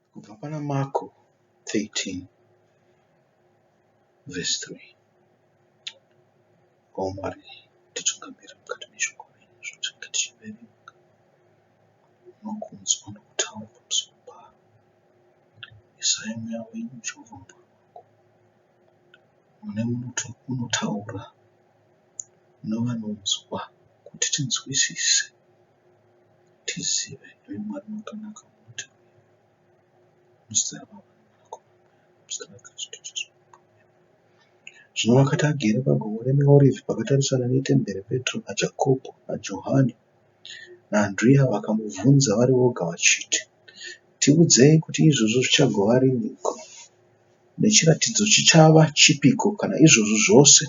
kubva pana Marko 13 vhesi 3 o Mwari titungamira mukati meshoko renyu zvatinenge tichiverenga nokunzwa nokutaura pamusoro paro isai mweya wenyu jehovha mumba wako mune unotaura novanonzwa kuti tinzwisise tizive iwe mwari makanaka munoita muzita rababa muzita rakristu jesu zvino vakati agere pagomo remeorivi pakatarisana netembere petro najakobho najohani naandriya vakamubvunza vari voga vachiti tiudzei kuti izvozvo zvichagova riniko nechiratidzo chichava chipiko kana izvozvo zvose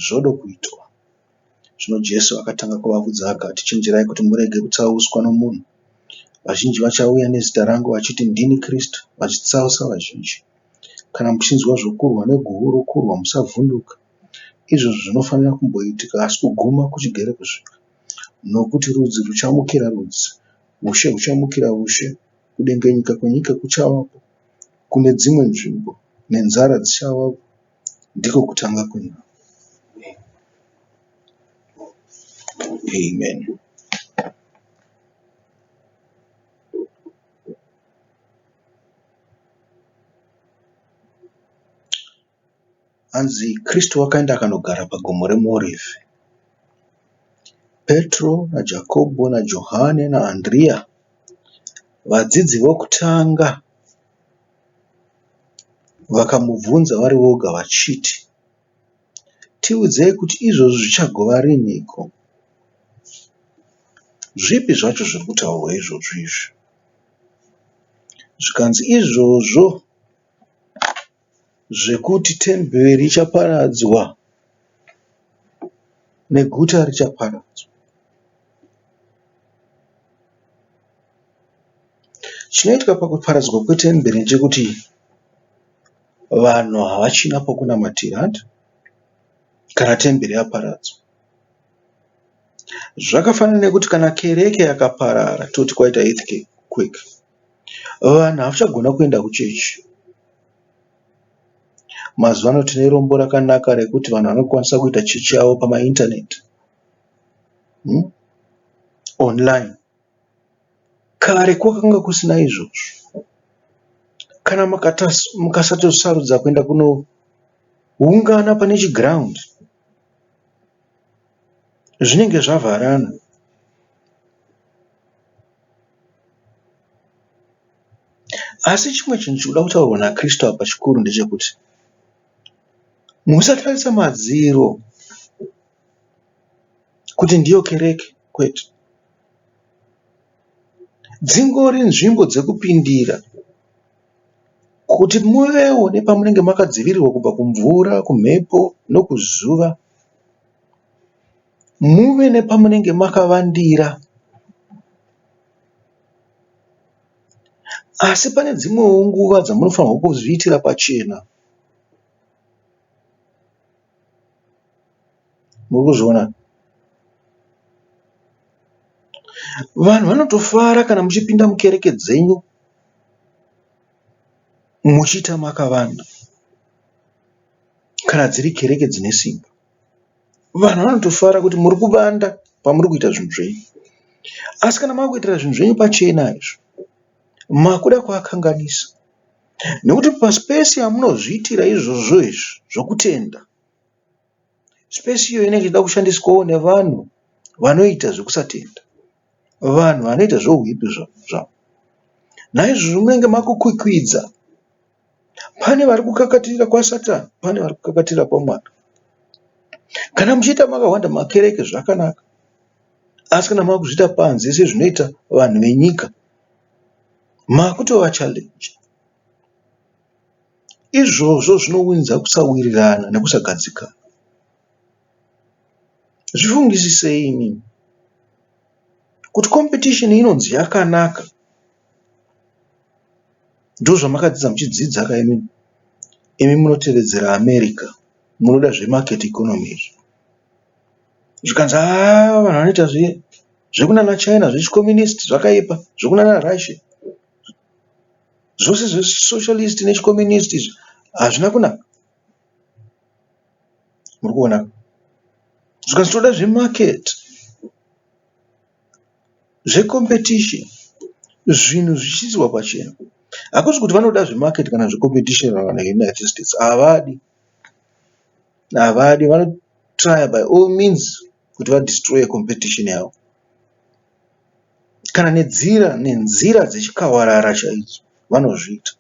zvodo kuitwa Zvino Jesu akatanga kuvabvudza akati, Chenjerai kuti murege kutsauswa nomunhu. Vazhinji vachauya nezita rangu vachiti, Ndini Kristu, vachitsausa vazhinji. Kana muchinzwa zvokurwa neguhu rokurwa, musavhunduka. Izvozvo zvinofanira kumboitika, asi kuguma kuchigere kusvika. Nokuti rudzi ruchamukira rudzi, ushe huchamukira ushe, kudengenyeka kwenyika kuchavapo kune dzimwe nzvimbo, nenzara dzichavapo, Ndiko kutanga kwenhau. Amen. Hanzi Kristu wakaenda akanogara pagomo remuorivhi. Petro naJakobho naJohane naAndriya vadzidzi vokutanga Vakamubvunza vari voga vachiti, Tiudzei kuti izvozvi zvichagova rinhiko? Zvipi zvacho zviri kutaurwa izvozvi izvi? Zvikanzi, Izvozvo zvekuti temberi richaparadzwa neguta richaparadzwa. Chinoitika pakuparadzwa kwetemberi ndechekuti vanhu havachina pokunamatira kana temberi yaparadzwa. Zvakafanana nekuti kana kereke yakaparara toti kwaita earthquake vanhu havachagona kuenda kuchechi. Mazuva ano tine rombo rakanaka rekuti vanhu vanokwanisa kuita chechi yavo pamaindaneti, onurayini. Kare kwakanga kusina izvozvo. Kana mukasatosarudza kuenda kunoungana pane chiground zvinenge zvavharana. Asi chimwe chinhu chiri kuda kutaurwa naKristu apa chikuru ndechekuti musatarisa madziro kuti ndiyo kereke kwete. dzingori nzvimbo dzekupindira kuti muvewo nepamunenge makadzivirirwa kubva kumvura, kumhepo nokuzuva. Muve nepamunenge makavandira. Asi pane dzimwewo nguva dzamunofanirwa kuzviitira pachena. murikuzviona vanhu vanotofara kana muchipinda mukereke dzenyu muchiita makavanda kana dziri kereke dzine simba vanhu vanotofara kuti muri kuvanda pamuri kuita zvinhu zvenyu asi kana makuitira zvinhu zvenyu pachena izvo makuda kuakanganisa nekuti pasi pese yamunozviitira izvozvo izvi zvokutenda Space iyo inenge ichida kushandiswawo nevanhu vanoita zvekusatenda. Vanhu vanoita zvehuipi zvavo. Naizvozvo munenge makukwikwidza. Pane vari kukakatirira kwaSatani pane vari kukakatirira kwaMwari. Kana muchiita makahwanda makereke zvakanaka. Asi kana makuzviita panze sezvinoita vanhu venyika makutova challenge. Izvozvo zvinounza kusawirirana nekusagadzikana. Zvifungisisei imimi kuti competition inonzi yakanaka ndozvamakadzidza muchidzidza ka imimi. Imi munotevedzera America munoda zve market economy izvo. Zvikanzi haa vanhu vanoita zvekunana China zvechi communist zvakaipa zvekunana Russia. Zvose zvesocialist nechicommunist izvi hazvina kunaka. Muri kuona? Zvikanzi toda zvemarket, zvecompetition, zvinhu zvichiiswa pachena. Hakusi kuti vanoda zvemarket kana zvecompetition vavana veUnited States. Havadi. Havadi. Vanotraya by all means. kuti va destroye competition yavo kana nedzira nenzira dzechikawarara chaidzo vanozviita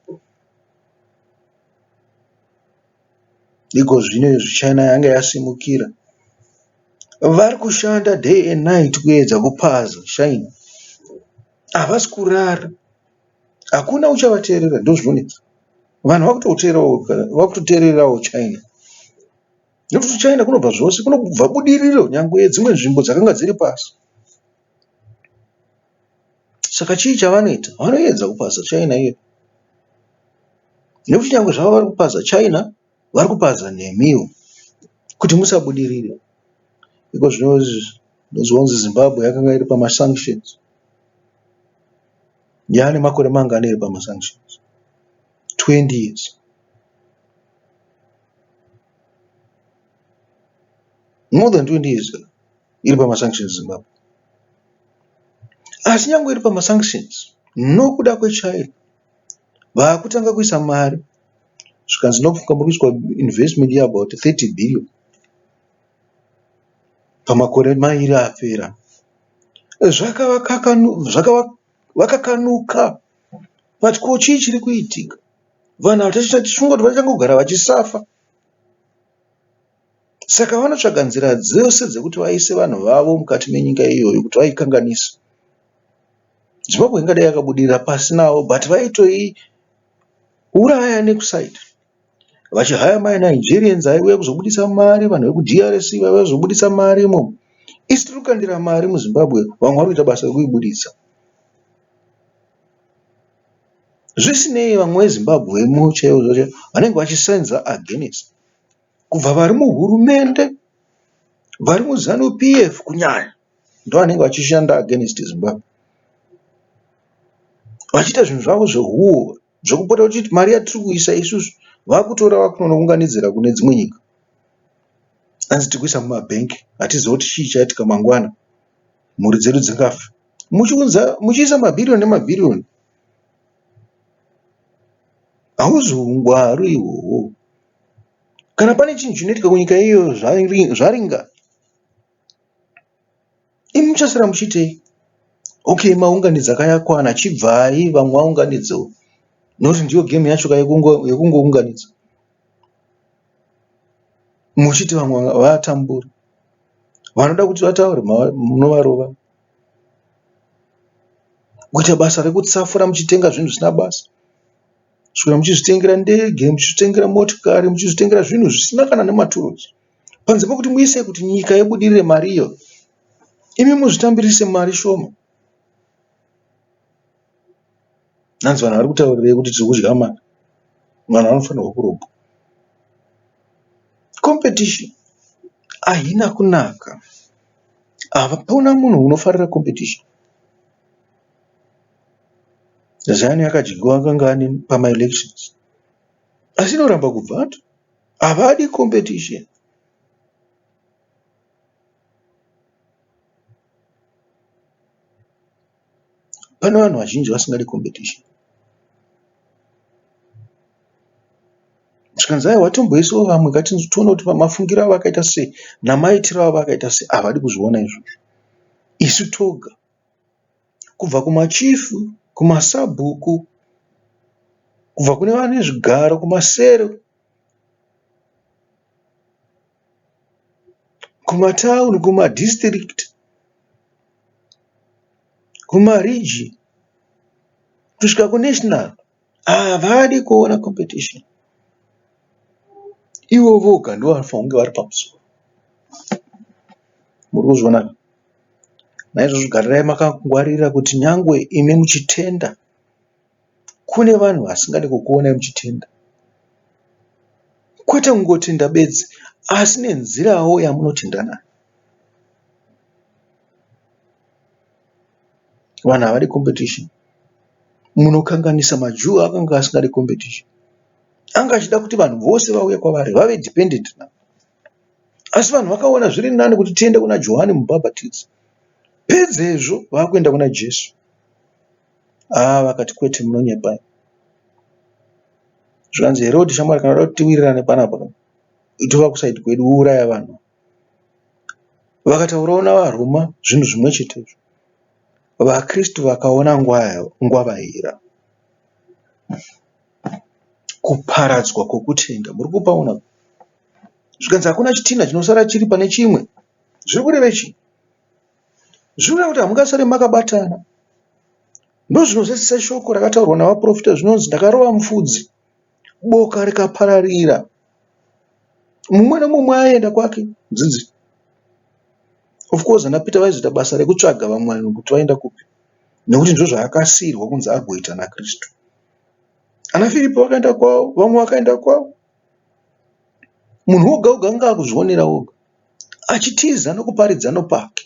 ikozvino izvi china yanga yasimukira vari kushanda day and night kuedza kupaza china havasi kurara hakuna uchavateerera ndozvinonetsa vanhu vakutoteererawo china Nekuti kuchaenda kunobva zvose, kunobva budiriro nyangwe yedzimwe nzvimbo dzakanga dziri pasi. Saka chii chavanoita? Vanoedza kupaza China iyo, nekuti nyangwe zvavo vari kupaza China, vari kupaza nemiwo kuti musabudirire. Iko zvinozonzi Zimbabwe yakanga iri pamasanctions, yaane makore mangani iri pamasanctions? 20 years. More than 20 years iri pama sanctions Zimbabwe. Asi nyangwe iri pama sanctions nokuda kweChina vakutanga kuisa mari zvikanzi nofunga muri kuiswa investment ye about 30 billion pamakore mairi apera. Zvakavakanuka. But ko chii chiri kuitika? Vanhu ava tichifunga kuti vachitanga kugara vachisafa. Saka vanotsvaga nzira dzose dzekuti vaise vanhu vavo mukati menyika iyoyo kuti vaikanganisa. Zimbabwe ingadai yakabudirira pasi navo but vaitoiuraya nekusaita. vachihaya ma Nigerians aiuya kuzobudisa mari vanhu veku DRC vaiuya kuzobudisa mari imomo isu tiri kukandira mari muZimbabwe vamwe vari kuita basa rekuibuditsa zvisinei vamwe veZimbabwe mo chaivo zvacho vanenge vachisenza against kubva vari muhurumende vari muZanu PF kunyanya ndovanenge vachishanda against Zimbabwe vachiita zvinhu zvavo zvehuori. zvekupota uchiti mari yatiri kuisa isusu vakutora vakunonounganidzira kune dzimwe nyika hanzi tiri kuisa mumabank hatiziva kuti chii chaitika mangwana mhuri dzedu dzingafa muchiunza muchiisa mabhiriyoni nemabhiriyoni hauzi ungwaru ihwohwo kana pane chinhu chinoitika kunyika iyoyo zvaringa Imi muchasara muchiitei? Okay, maunganidza kayakwana, chibvai vamwe vaunganidzewo. Nokuti ndiyo game yacho ka yekungounganidza. Muchiti vamwe vatambura. Vanoda kuti vataure munovarova. Kuita basa rekutsafura muchitenga zvinhu zvisina basa. Kusvikira muchizvitengera ndege, muchizvitengera motikari, muchizvitengera zvinhu zvisina kana nematurusi. panze pekuti muise kuti nyika ibudirire mari iyo imi muzvitambirise mari shoma. Hanzi vanhu vari kutaurirei kuti tiri kudya mari. Vanhu vanofanirwa kurobwa. Competition haina kunaka. Hapana munhu unofarira competition. Zanu yakadyiwa kangani pamaelections asi inoramba kubva. Havadi competition. Pane vanhu vazhinji vasingadi competition. Zvikanzi aiwa watomboisawo vamwe katinzi tione kuti mafungiro avo akaita sei namaitiro avo akaita sei. Havadi kuzviona izvozvo. Isu toga kubva kumachifu, kumasabhuku, kubva kune vane zvigaro, kumasero kumatauni kumadistrict kumaregion kusvika kunational havadi kuona competition ivo voga ndivo vanofanira kunge vari pamusoro muri kuzviona naizvozvo garirai makangwarira kuti nyangwe imi muchitenda Kune vanhu vasingade kukuonai muchitenda kwete kungotenda bedzi asi nenzirawo yamunotenda nayo. Vanhu havadi competition. Munokanganisa maJew akanga asingadi competition. Anga achida kuti vanhu vose vauye kwavari vave dependent naye. Asi vanhu vakaona zviri nani kuti tiende kuna Johani Mubhabhatidzi pedzezvo vakuenda kuna Jesu. Haa vakati kwete munonyepa imi. Zvikanzi Herodhi shamwari kana uda kuti tiwirirane panapa ka tova kuside kwedu wouraya vanhu. Vakataurawo navaRoma zvinhu zvimwe chetezvo. VaKristu vakaona ngwavaira. Kuparadzwa kwokutenda muri kupaona apa. Zvikanzi hakuna chitinha chinosara chiri pane chimwe. Zviri kurevei chii? Zvinoreva kuti hamungasare makabatana. Ndozvinozadzisa shoko rakataurwa navaprofita zvinonzi ndakarova mufudzi boka rikapararira. Mumwe nomumwe aienda kwake dzidzi. Of course ana Peter vaizoita basa rekutsvaga vamwe vanhu kuti vaenda kupi nekuti ndizvo zvaakasiirwa kunzi agoita naKristu. Ana Firipi vakaenda kwavo, vamwe vakaenda kwavo. Munhu oga oga anenge akuzvionera oga achitiza nekuparidza nepake.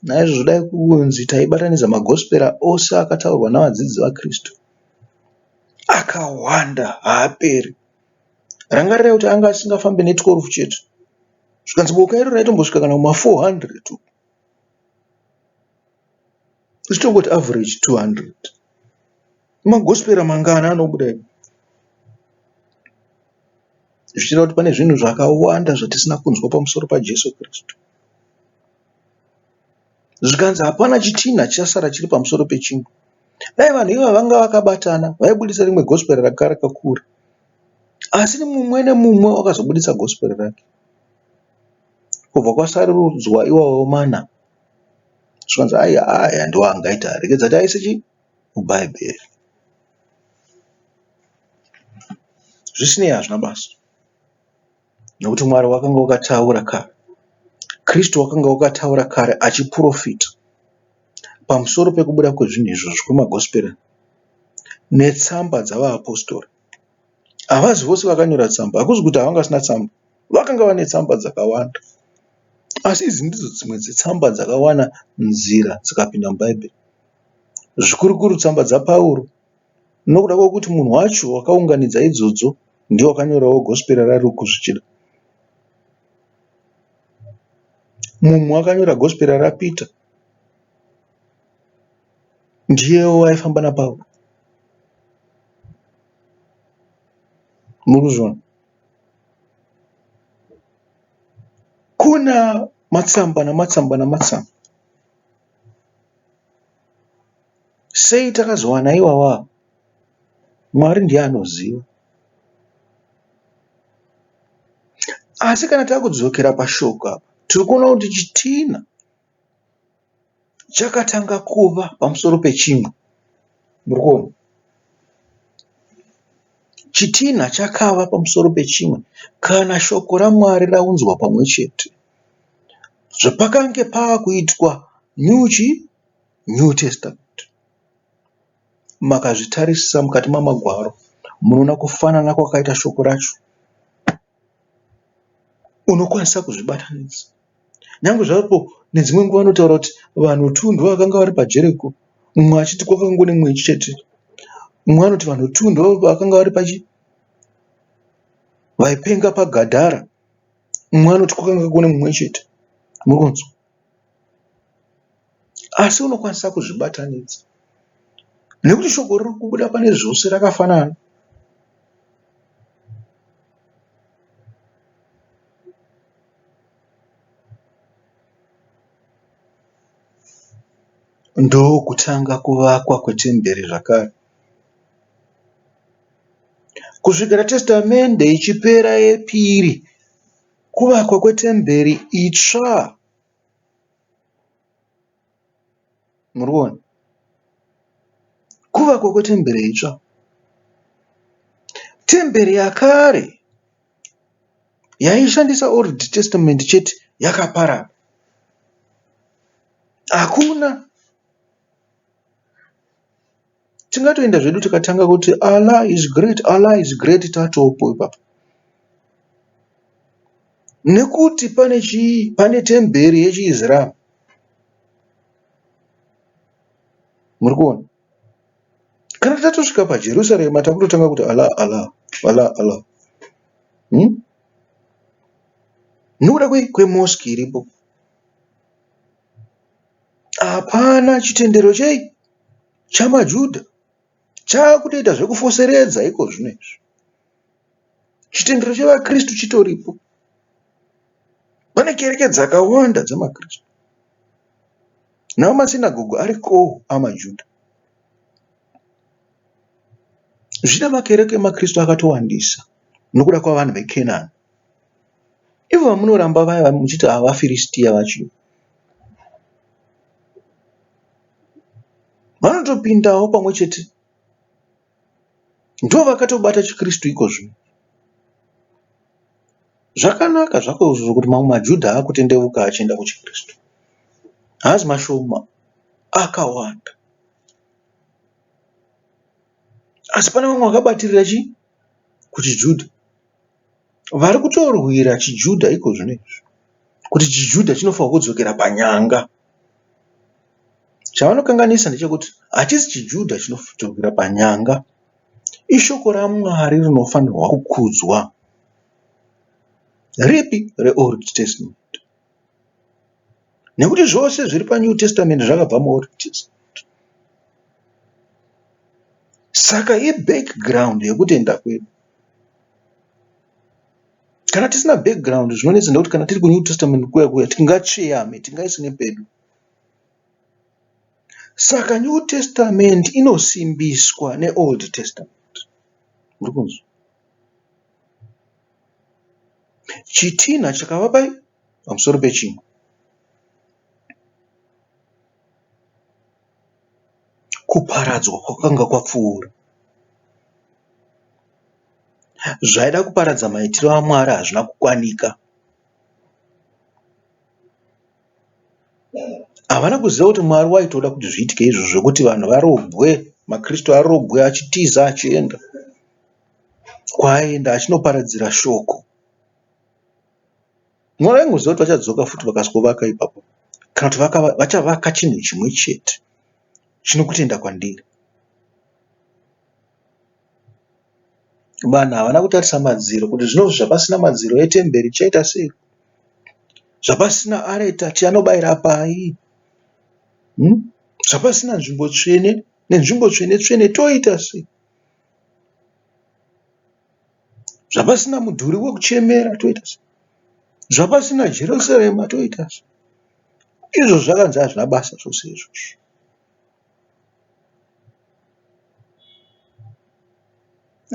Naizvozvo dai kunzi taibatanidza magospera ose akataurwa nevadzidzi vaKristu akawanda haaperi. Rangarirai kuti anga asingafambi ne 12 chete zvikanzi boka iro raitombosvika kana kuma 400 uko. Isu tongoti average 200. Magospera mangana anobuda ipo zvichira kuti pane zvinhu zvakawanda zvatisina kunzwa pamusoro paJesu Kristu. Zvikanzi hapana chitinha chichasara chiri pamusoro pechingwa. Dai vanhu iva vanga vakabatana vaibudisa rimwe gospera ranga rakakura. Asi mumwe nemumwe wakazobudisa gospera rake. Kubva kwasarudzwa iwawo mana zvikanzi ayi aya ndiwo angaita rekedza taise chii muBhaibheri. Zvisinei, hazvina basa nokuti Mwari wakanga wakataura kare, Kristu wakanga wakataura kare achiprofita pamusoro pekubuda kwezvinhu izvozvo kwemagosiperi netsamba dzavaapostori. Havazi vose vakanyora tsamba, hakuzi kuti havanga vasina tsamba, vakanga vane tsamba dzakawanda. Asi idzi ndidzo dzimwe dzetsamba dzakawana nzira dzikapinda muBhaibheri. zvikurukuru tsamba dzaPauro nokuda kwekuti munhu wacho wakaunganidza idzodzo ndiye wakanyorawo Gospera raRuku zvichida. Mumwe wakanyora Gospera raPita ndiyewo waifamba naPauro. Muri kuzviona? Kuna matsamba namatsamba namatsamba. Sei takazowana iwawa Mwari ndiye anoziva. Asi kana takudzokera pashoko apa tiri kuona kuti chitina chakatanga kuva pamusoro pechimwe. Muri kuona? Chitinha chakava pamusoro pechimwe kana shoko raMwari raunzwa pamwe chete. Zvapakange pava kuitwa New chi? New Testament. Makazvitarisisa mukati mamagwaro munoona kufanana kwakaita shoko racho. Unokwanisa kuzvibatanidza. Nyangwe zvapo nedzimwe nguva vanotaura kuti vanhu two ndovakanga vari pajeri ipapo mumwe achiti kwakanga kune mumwe chete. Mumwe anoti vanhu two ndovakanga vari pachi vaipenga pagadhara. Mumwe anoti kwakanga kune mumwe chete. Muri kunzwa? Asi unokwanisa kuzvibatanidza nekuti shoko riri kubuda pane zvose rakafanana. Ndokutanga kuvakwa kwetemberi zvakare. Kusvikira Testamende ichipera yepiri, kuvakwa kwetemberi itsva Murikuona kuvakwa kwetembere itsva. Tembere yakare yaishandisa old testament chete yakaparara hakuna. Tingatoenda zvedu tikatanga kuti Allah is great, Allah is great tatopo ipapo. Nekuti pane chi pane temberi yechiIslam. Muri kuona? Kana tatosvika paJerusalem takutotanga kuti Allah Allah Allah Allah. Hmm? Nokuda kwemosque iripo. Hapana chitendero chei? chamaJuda chakutoita zvekufoseredza iko zvino izvi. Chitendero chevaKristu chitoripo. Pane kereke dzakawanda dzemaKristu. Nawo masinagogo arikowo amaJuda. Zvina makereke emaKristu akatowandisa nokuda kwavanhu veKenani. Ivo vamunoramba vaya muchiti havaFiristia vachio. vanotopindawo pamwe chete ndovakatobata chiKristu ikozvi. Zvakanaka zvako izvozvo kuti mamwe maJudha akutendeuka achienda kuchiKristu, haazi mashoma, akawanda. Asi pane vamwe vakabatirira chii? KuchiJudha. Vari kutorwira chiJudha iko zvino izvi kuti chiJudha chinofanirwa kudzokera panyanga. Chavanokanganisa ndechekuti hachisi chiJudha chinodzokera panyanga, ishoko raMwari rinofanirwa kukudzwa. Ripi? ReOld Testament. nekuti zvose zviri paNew Testament zvakabva muOld Testament. Saka ibackground yekutenda kwedu. Kana tisina background zvinonetsa nekuti kana tiri kuNew Testament kuya kuya tingatsveyame, tingaisine pedu. Saka New Testament inosimbiswa neOld Testament. Muri kunzwa? Chitinha chakava pai pamusoro pechimwe. Kuparadzwa kwakanga kwapfuura. Zvaida kuparadza maitiro aMwari hazvina kukwanika. Havana kuziva kuti Mwari waitoda kuti zviitike izvo zvekuti vanhu varobwe, maKristu arobwe achitiza achienda. kwaaenda achinoparadzira shoko. Mwari vaingoziva kuti vachadzoka futi vakazovaka ipapo kana kuti vachavaka chinhu chimwe chete chine kutenda kwandiri. Vanhu havana kutarisa madziro kuti zvino zvapasina madziro etemberi zvichaita sei, zvapasina areta tinobaira pai, zvapasina nzvimbo tsvene nenzvimbo tsvene-tsvene toita sei. Zvapasina mudhuri wekuchemera toita so. Zvapasina Jerusarema toita so. Izvo zvakanzi hazvina basa zvose izvozvo.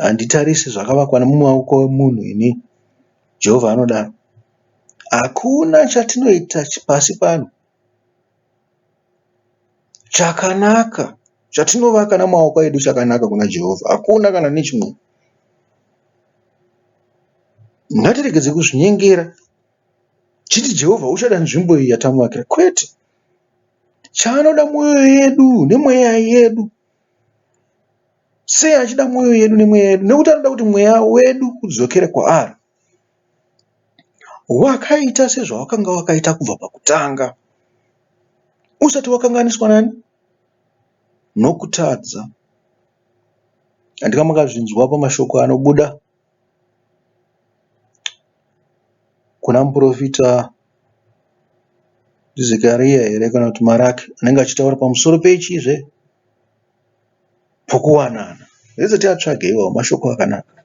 Handitarise zvakavakwa nemumaoko emunhu ini, Jehovha anodaro. Hakuna chatinoita pasi pano Chakanaka chatinovaka nemaoko edu chakanaka kuna Jehovha. Hakuna kana nechimwe. Ngatiregedze kuzvinyengera tichiti Jehovha uchada nzvimbo iyi yatamuvakira. Kwete. Chaanoda mwoyo yedu nemweya yedu. Sei achida mwoyo yedu nemweya yedu? Nekuti anoda kuti mweya wedu udzokere kwaari. Wakaita sezvawakanga wakaita kubva pakutanga. Usati wakanganiswa nani? Nokutadza. Handina makazvinzwa pamashoko anobuda kuna muporofita Zekariya here kana kuti Maraki anenge achitaura pamusoro pechii zve? pokuwanana hezvo tiatsvage iwawo mashoko akanaka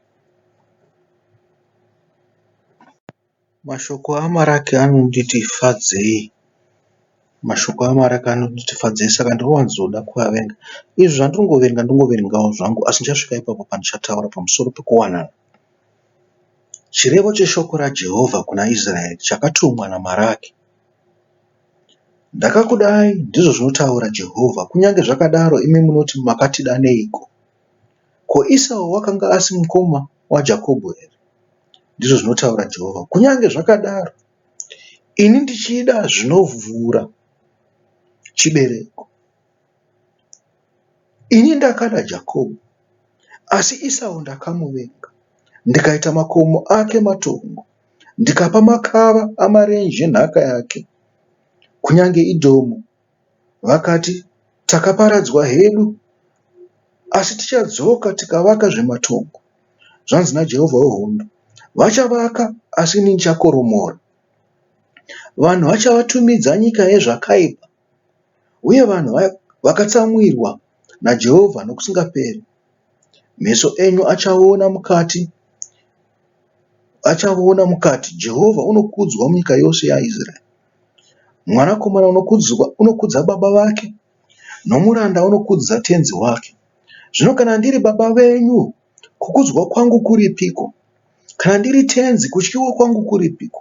mashoko amaraki anonditi fadzei mashoko amaraki anonditi fadzei saka ndinowanzoda kuavenga izvi zvandingoverenga ndingoverengawo zvangu asi ndichasvika ipapo pandichataura pamusoro pekuwanana chirevo cheshoko rajehovha kuna israeri chakatumwa namaraki Ndakakudai, ndizvo zvinotaura Jehovha, kunyange zvakadaro imi munoti, Makatida neiko? Ko Isau wakanga asi mukoma waJakobho here? ndizvo zvinotaura Jehovha. Kunyange zvakadaro, ini ndichida zvinovhura chibereko. Ini ndakada Jakobho, asi Isau ndakamuvenga, ndikaita makomo ake matongo, ndikapa makava amarenje nhaka yake. Kunyange Edhomu vakati, Takaparadzwa hedu, asi tichadzoka tikavakazve matongo. Zvanzi naJehovha wehondo, Vachavaka, asi ini ndichakoromora. Vanhu vachavatumidza Nyika Yezvakaipa. uye vanhu vakatsamwirwa naJehovha nokusingaperi. Meso enyu achaona mukati, achaona mukati. Jehovha unokudzwa munyika yose yaIsraeri. Mwanakomana unokudzwa, unokudza baba vake, nomuranda unokudza tenzi wake. Zvino kana ndiri baba venyu, Kukudzwa kwangu kuripiko? Kana ndiri tenzi, kutyiwa kwangu kuripiko?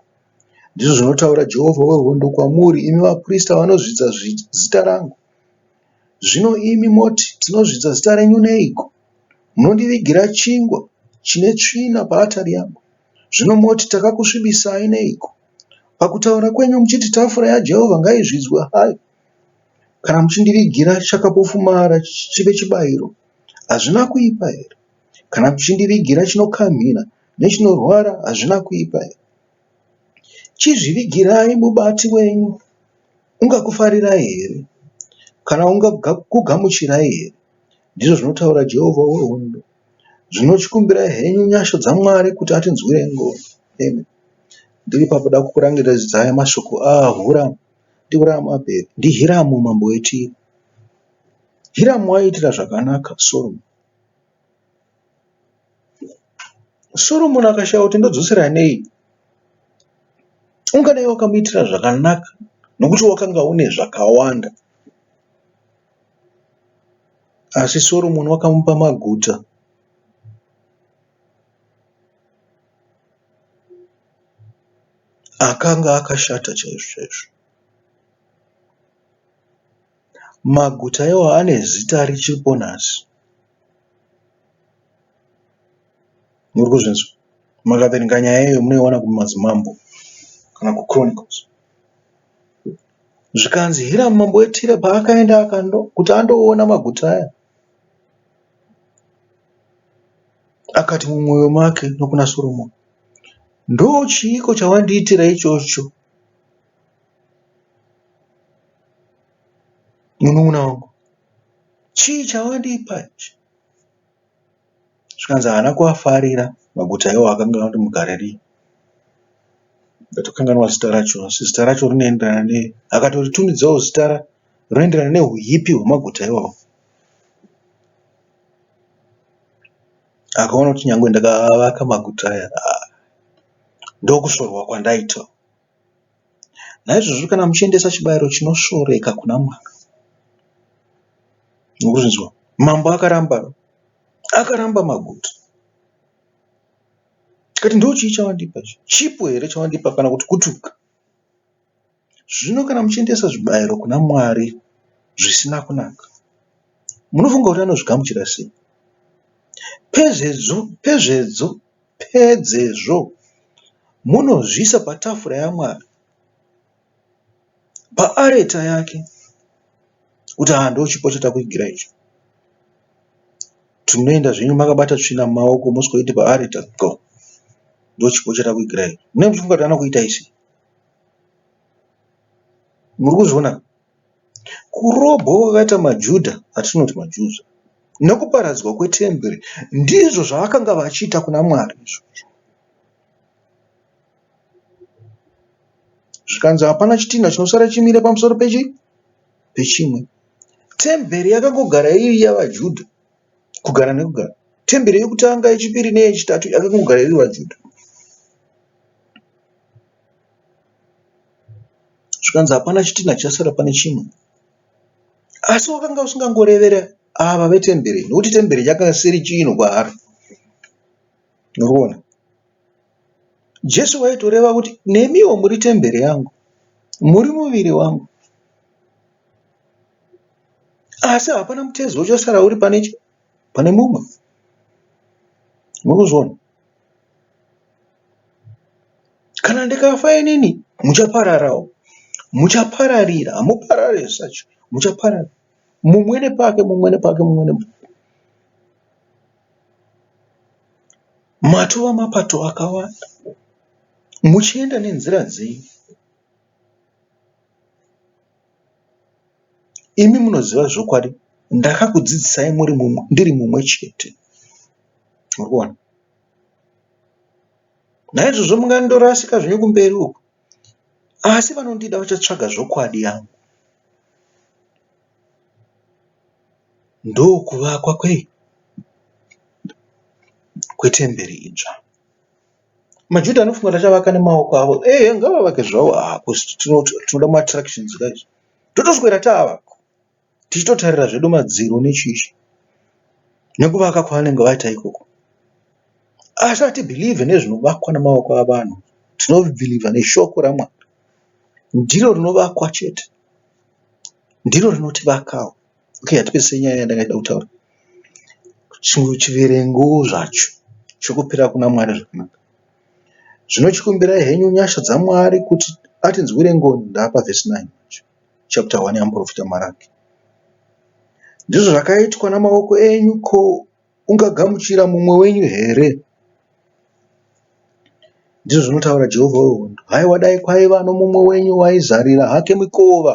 ndizvo zvinotaura Jehovha wehondo kwamuri, imi vaprista vanozvidza zita rangu. Zvino imi moti, Tinozvidza zita renyu neiko? Munondivigira chingwa chine tsvina paatari yangu. Zvino moti, Takakusvibisai neiko? Pakutaura kwenyu muchiti, Tafura yaJehovha ngaizvidzwe hayo, kana muchindivigira chakapofumara chive chibayiro. Hazvina kuipa here? Kana kuchindivigira chinokamhina nechinorwara hazvina kuipa here? Chizvivigirai mubati wenyu, ungakufarirai here? Kana ungakugamuchirai here? ndizvo zvinotaura Jehovha wehondo. Zvino chikumbirai henyu nyasha dzaMwari kuti atinzwire ngoni. Amen. Ndiri pakuda kukurangiridzai mashoko aHuramu. NdiHuramu apera. NdiHiramu mambo weTire. Hiramu aiitira zvakanaka Soromoni. Soromoni akashaya kuti ndodzosera nei. Ungadai wakamuitira zvakanaka nokuti wakanga une zvakawanda. Asi Soromoni wakamupa maguta. Akanga akashata chaizvo chaizvo. Maguta iwayo ane zita richiripo nhasi. Muri kuzvinzwa? Mukaverenga nyaya iyoyo munoiona kuMadzimambo kana kuChronicles. Zvikanzi Hiramu mambo weTire paakaenda kuti andoona maguta aya, akati mumwoyo make nokuna Soromoni, Ndochiiko chawandiitira ichocho? Munun'una wangu chii chawandipa ichi? Zvikanzi haana kuafarira maguta iwayo akange ati mugare rii. Ndatokanganwa zita racho asi zita racho rinoenderana ne. Akatotumidzao zita rinoenderana nehuipi hwemaguta iwayo. Akaona kuti nyangwe ndakaavaka maguta aya ndokusvorwa kwandaita. Naizvozvo kana muchiendesa chibayiro chinosvoreka kuna Mwari, murizvinzwa, mambo akaramba, akaramba maguta, akati ndochii chawandipa ichi, chipo here chawandipa kana kuti kutuka? Zvino kana muchiendesa zvibayiro kuna Mwari zvisina kunaka, munofunga kuti anozvigamuchira sei? Pezvedzo, pezvedzo Pedzezvo, munozviisa patafura yaMwari, paareta yake, kuti, Haa, ndochipo chatakuigira ichi. Tinoenda zvenyu makabata tsvina mumaoko, mosvikoiti paareta, go, ndochipo chatakuigira ichi. Munenge muchifunga kuti anokuita isi. Muri kuzviona? Kurobwa kwakaita maJuda, atinoti maJews, nokuparadzwa kwetemberi ndizvo zvavakanga vachiita kuna Mwari izvozvo. Zvikanzi hapana chitinha chinosara chimire pamusoro pechi pechimwe. Temberi yakangogara iri yavaJuda kugara nekugara. Temberi yekutanga, yechipiri neyechitatu yakangogara iri vaJuda. zvikanzi hapana chitinha chasara pane chimwe asi wakanga usingangorevere ava vetembere nokuti tembere yakanga isiri chinhu kwaari noriona jesu waitoreva kuti nemiwo muri tembere yangu muri muviri wangu asi hapana mutezo uchasara uri pane pane mumwe mukuzviona kana ndikafa inini muchapararawo muchapararira hamuparare zvacho muchaparara mumwe nepake mumwe nepake mumwe nepake matova mapato akawanda muchienda nenzira dzenyu Imi munoziva zvokwadi ndakakudzidzisai ndiri mumwe chete. Muri kuona? Naizvozvo mungandorasika zvenyu kumberi uko asi vanondida vachatsvaga zvokwadi yangu. Ndokuvakwa kwei? Kwetemberi idzva. MaJuda anofunga kuti achavaka nemaoko avo. Ehe, ngavavake zvavo hako, tinoda maattractions guys. Totoswera taavako, tichitotarira zvedu madziro nechichi nekuvaka kwavanenge vaita ikoko. Asi hatibhilivhe nezvinovakwa nemaoko avanhu, tinobhilivha neshoko raMwari. Ndiro rinovakwa chete, ndiro rinotivakawo. Okay hatipedzise nyaya yandanga ndichida kutaura. Chimwe chiverengo zvacho chokupira kuna Mwari zvakanaka. Zvino chikumbirai henyu nyasha dzaMwari kuti atinzwire ngoni ndaapa verse 9 yacho. Chapter 1 yamuprofita Maraki. Ndizvo zvakaitwa namaoko enyu ko ungagamuchira mumwe wenyu here? Ndizvo zvinotaura Jehovha wehondo. Haiwa dai kwaiva nomumwe wenyu waizarira hake mikova.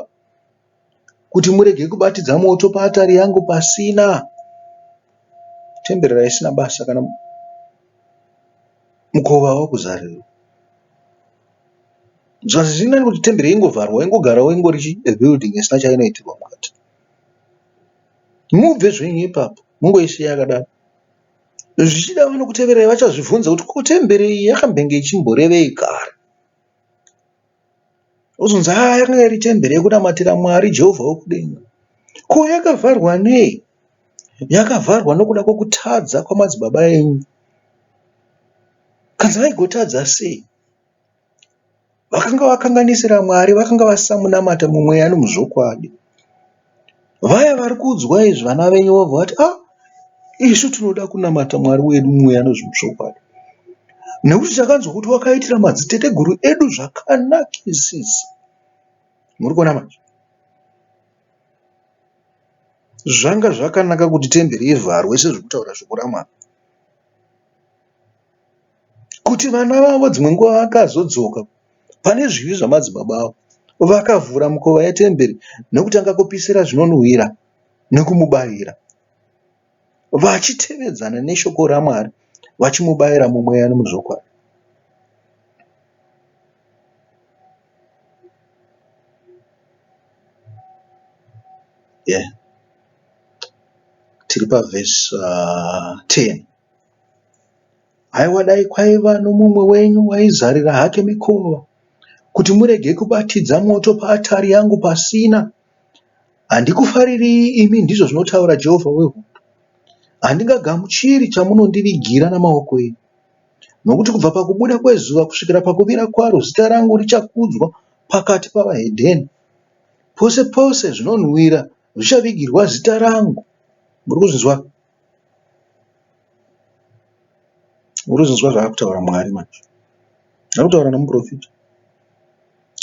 kuti murege kubatidza moto paatari yangu pasina. Temberi raisina basa kana mukova wakuzarirwa. Zvazi zvirinani kuti temberi yaingovharwa yaingogarawo ingori chi a building isina chainoitirwa mukati. Mubve zvenyu ipapo mungoisiya yakadaro. Zvichida vanokuteverai vachazvibvunza kuti ko temberi iyi yakambenge ichimborevei kare. Ozonzi haa yakanga iri temberi yekunamatira Mwari Jehovha wokudenga. Ko yakavharwa nei? Yakavharwa nokuda kwokutadza kwamadzibaba enyu. Kanzi vaigotadza sei? Vakanga vakanganisira Mwari, vakanga vasamunamata mumweya nomuzvokwadi. Vaya vari kuudzwa izvi vana venyu vobva vati ah isu tinoda kunamata mwari wedu mweya nezvemuchokwadi nekuti takanzwa kuti wakaitira madziteteguru edu zvakanakisisa muri kuona manje zvanga zvakanaka kuti temberi ivharwe sezvekutaura shoko ramwari kuti vana vavo dzimwe nguva vakazodzoka pane zvivi zvamadzibaba avo, vakavhura mikova yetemberi nokutanga kupisira zvinonhuhwira nokumubayira, vachitevedzana neshoko raMwari, vachimubayira mumweya nomuzvokwadi. Tiri pavhesi 10. Haiwa dai kwaiva nomumwe wenyu aizarira hake mikova kuti murege kubatidza moto paatari yangu pasina. Handikufariri imi, ndizvo zvinotaura Jehovha wehondo. Handingagamuchiri chamunondivigira namaoko enyu. Nokuti kubva pakubuda kwezuva kusvikira pakuvira kwaro zita rangu richakudzwa pakati pavahedheni. Pose pose zvinonhuwira zvichavigirwa zita rangu. Muri kuzvinzwa? Urikuzonzwa zvaakutaura Mwari manje. Arikutaura nemuporofita.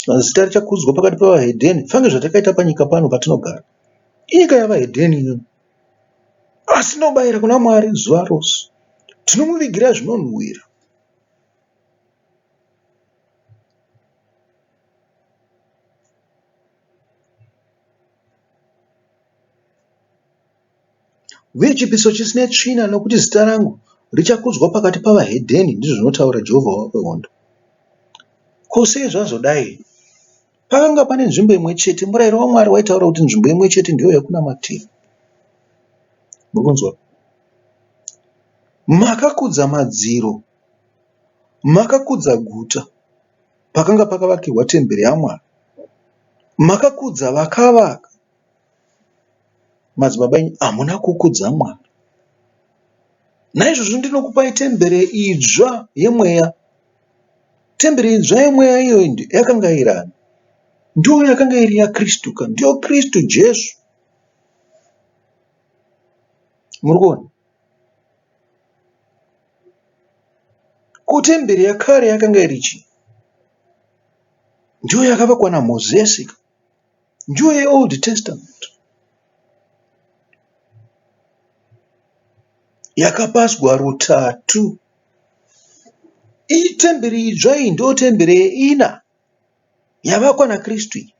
Vanhu zita richakudzwa pakati pevahedheni. Funge zvatakaita panyika pano patinogara. Inyika yavahedheni iyo. Asi tinobayira kuna Mwari zuva rose. Tinomuvigira zvinonhuhwira. uye chipiso chisina tsvina, nokuti zita rangu richakudzwa pakati pavahedheni, ndizvo zvinotaura Jehovha wamahondo. Ko sei zvazodai? Pakanga pane nzvimbo imwe chete, murayiro waMwari waitaura kuti nzvimbo imwe chete ndiyo yakunamatira. Muri kunzwa? Makakudza madziro, makakudza guta pakanga pakavakirwa temberi yaMwari, makakudza vakavaka Madzibaba imi hamuna kukudza mwana. Naizvozvo ndinokupai tembere idzva yemweya. Tembere idzva yemweya iyoyi yakanga iri ani? Ndiyo yakanga iri yaKristu ka? Ndiyo Kristu Jesu. Muri kuona? Ko tembere yakare yakanga iri chii? Ndiyo yakavakwa naMozisi ka? Njuye yeOld Testament yakapazwa rutatu. Iyi temberi idzva iyi ndiyo temberi yeina yavakwa naKristu iyi.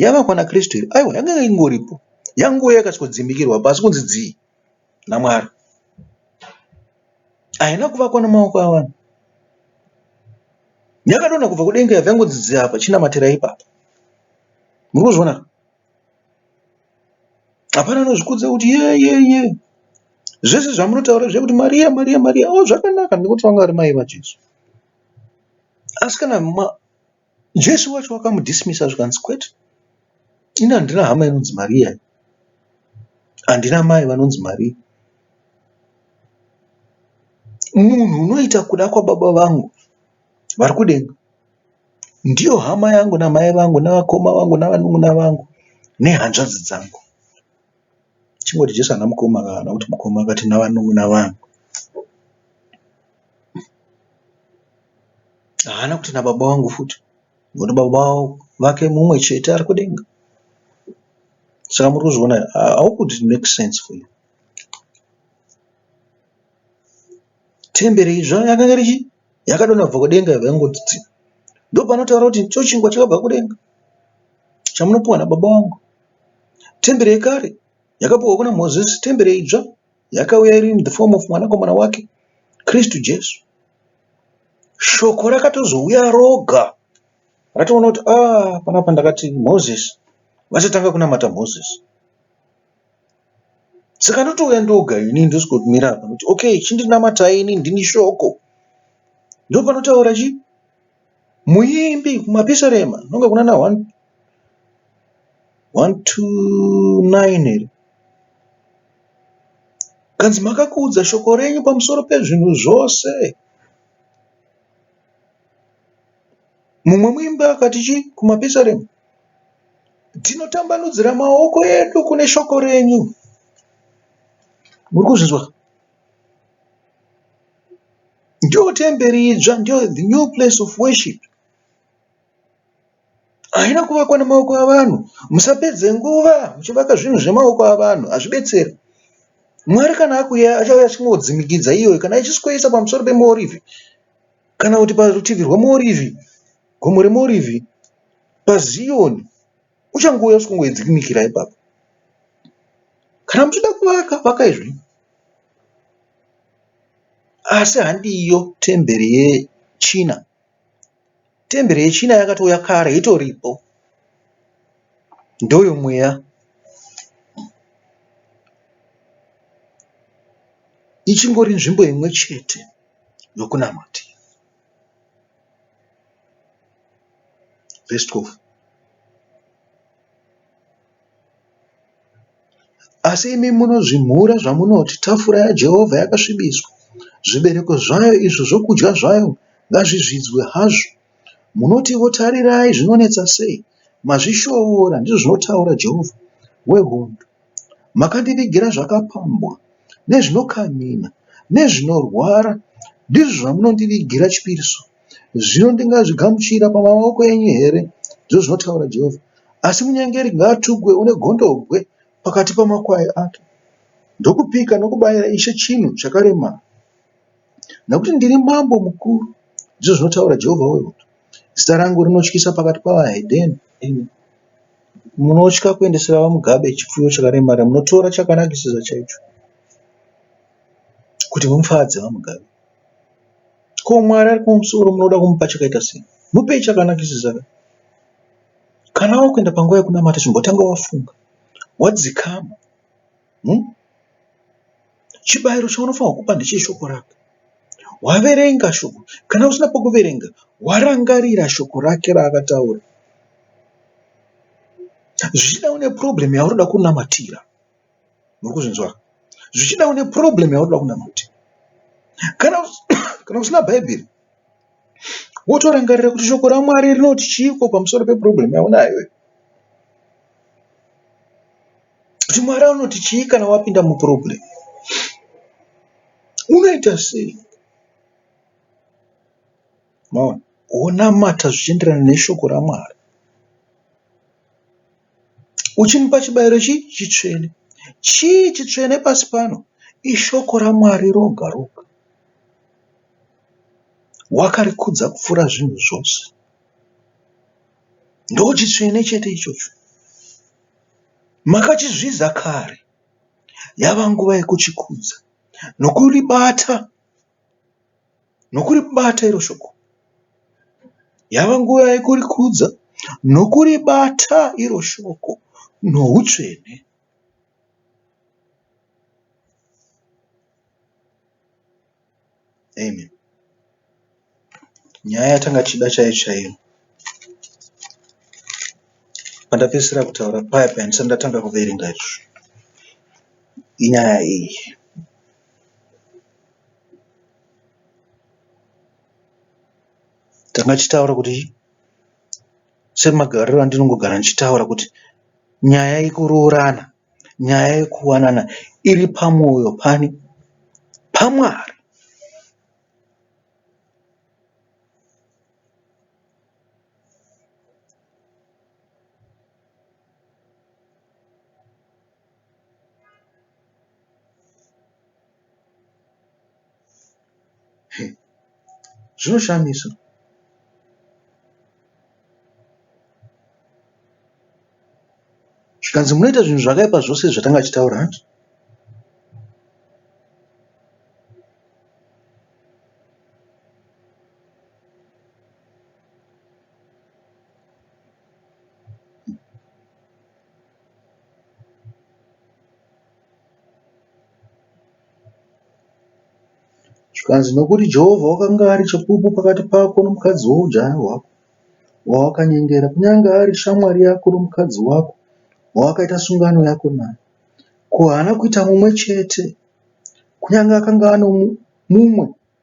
Yavakwa naKristu iyi aiwa yanga ingoripo yangouya ikasvikodzimikirwa pasi kunzi dzii. naMwari. Haina kuvakwa namaoko avanhu. Yakadonha kubva kudenga yabva yangonzi apa chinamatirai ipapa. Muri kuzviona? Hapana anozvikudza kuti ye ye ye. Zvese zvamunotaura zvekuti Maria Maria Maria oh zvakanaka nekuti vanga vari mai vaJesu. Asi kana Jesu wacho wakamu dismissa zvikanzi kwete ini handina hama inonzi Maria ini handina mai vanonzi Maria munhu unoita kuda kwababa vangu vari kudenga ndiyo hama yangu namai vangu nevakoma vangu navanun'una vangu nehanzvadzi dzangu. Chingoti Jesu haana mukoma ka kana kuti mukoma akati navanun'una vangu. Haana kuti nababa vangu futi ngokuti baba vake mumwe chete ari kudenga. Saka muri kuzviona here? Ah, How could it make sense for you? Temberi idzva yakanga richi Yakadonha kubva kudenga yobva yangoti tsi. Ndopanotaura kuti icho chingwa chakabva kudenga chamunopiwa nababa wangu. Tembere yekare yakapiwa kuna Mozisi, tembere idzva yakauya iri in the form of mwanakomana wake Kristu Jesu. Shoko rakatozouya roga ratoona kuti ah, panapa ndakati Mozisi, vachatanga kunamata Mozisi. saka ndotouya ndoga ini ndosvikotumira apa kuti okay chindinamatai ini ndini shoko ndopanotaura chi muimbi kumapisarema nonge kuna na 129 here kanzi makakuudza shoko renyu pamusoro pezvinhu zvose mumwe muimbi akati chi kumapisarema Tinotambanudzira maoko edu kune shoko renyu. Muri kuzvinzwa? Ndiyo temberi idzva, ndiyo the new place of worship. Haina kuvakwa nemaoko avanhu. Musapedze nguva muchivaka zvinhu zvemaoko avanhu, hazvibetseri. Mwari kana akuya achauya achingodzimikidza iyoyo, kana ichisikoisa pamusoro pemuorivhi, kana kuti parutivi rwemuorivhi, gomo remuorivhi, paZioni uchangouya usingaedzekumikira ipapo. Kana muchida kuvaka, vakai zvenyu. Asi handiyo temberi yechina. Temberi yechina yakatouya kare, itoripo. Ndoyo mweya. Ichingori nzvimbo imwe chete yokunamatira. Verse 12. Asi imi munozvimhura zvamunoti, tafura yaJehovha yakasvibiswa, zvibereko zvayo izvo zvokudya zvayo ngazvizvidzwe hazvo. Munotivo, Tarirai, zvinonetsa sei! Mazvishoora, ndizvo zvinotaura Jehovha wehondo. Makandivigira zvakapambwa nezvinokamhina nezvinorwara, ndizvo zvamunondivigira chipiriso. Zvino ndingazvigamuchira pamaoko enyu here? ndizvo zvinotaura Jehovha. Asi munyengeri ngaatukwe une gondobwe pakati pamakwai ake. Ndokupika nokubayira Ishe chinhu chakaremara. nokuti ndiri Mambo mukuru, ndizvo zvinotaura Jehovha wehondo. Zita rangu rinotyisa pakati pavahedheni, imi munotya kuendesera vaMugabe chipfuyo chakaremara, munotora chakanakisisa chaicho kuti mufadze vaMugabe. Ko Mwari ari kumusoro munoda kumupa chakaita sei? Mupei chakanakisisa ka. Kana wakuenda panguva yekunamata chimbotanga wafunga, wadzikama. hmm? chibayiro chaunofanirwa kupa ndecheshoko rake waverenga shoko kana usina pokuverenga warangarira shoko rake raakataura zvichida une problem yaunoda kunamatira muri kuzvinzwa zvichida une problem yaunoda kunamatira kana kana usina bhaibheri wotorangarira kuti shoko ramwari rinoti chiiko pamusoro peproblem yaunayo kuti mwari anoti chii kana wapinda muproblem unoita sei maona wonamata zvichienderana neshoko ramwari uchimupa chibayiro chii chitsvene chii chitsvene pasi pano ishoko ramwari roga roga wakarikudza kupfuura zvinhu zvose ndochitsvene chete ichocho Makachizvidza kare, yava nguva yekuchikudza nokuribata, nokuribata iro shoko. Yava nguva yekurikudza nokuribata iro shoko noutsvene. Amen. Nyaya yatanga tichida chaiyo chaiyo. Pandapedzisira kutaura paya paya ndisati ndatanga kuverenga izvo. Inyaya iyi. Tanga tichitaura kuti semagariro andinongogara ndichitaura kuti nyaya yekuroorana nyaya yekuwanana iri pamoyo pani? PaMwari. zvinoshamisa zvikanzi munoita zvinhu zvakaipa zvose zvatanga chitaura hanti Zvikanzi, Nokuti Jehovha wakanga ari chapupu pakati pako nomukadzi woujaya hwako, wawakanyengera, kunyange ari shamwari yako nomukadzi wako, wawakaita sungano yako naye, ko haana kuita mumwe chete, kunyange akanga ano mumwe?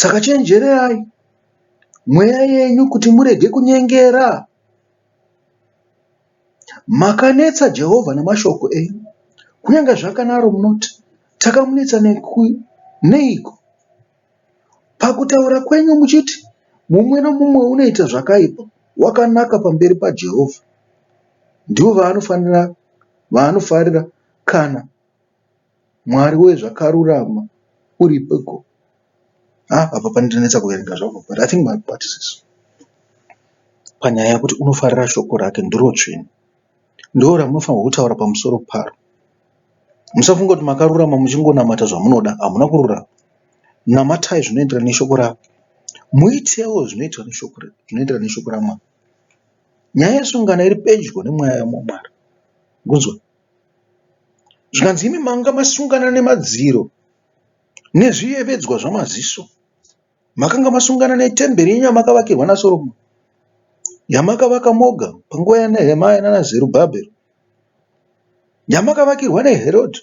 Saka chenjererai mweya yenyu kuti murege kunyengera. Makanetsa Jehovha namashoko enyu. Kunyange zvakanaro munoti, Takamunetsa neiko? Pakutaura kwenyu muchiti, Mumwe nomumwe unoita zvakaipa wakanaka pamberi paJehovha. Ndivo vaanofarira kana Mwari wee zvakarurama uripiko haa apa panondinetsa kuverenga zvangu but i think mabati sis panyaya yekuti unofarira shoko rake ndirotsvene ndoramunofanirwa kutaura pamusoro paro musafunga kuti makarurama muchingonamata zvamunoda hamuna kururama namatai zvinoenderana neshoko rake muitewo zvinoenderana neshoko ramwari nyaya yesungano iri pedyo nemweya wamwari kunzwa Zvikanzi imi manga masungana nemadziro nezviyevedzwa zvamaziso. Makanga masungana netemberi yenyu yamakavakirwa naSoromoni, yamakavaka moga panguva yaNehemia nanaZerubhabheri, yamakavakirwa naHerodhi.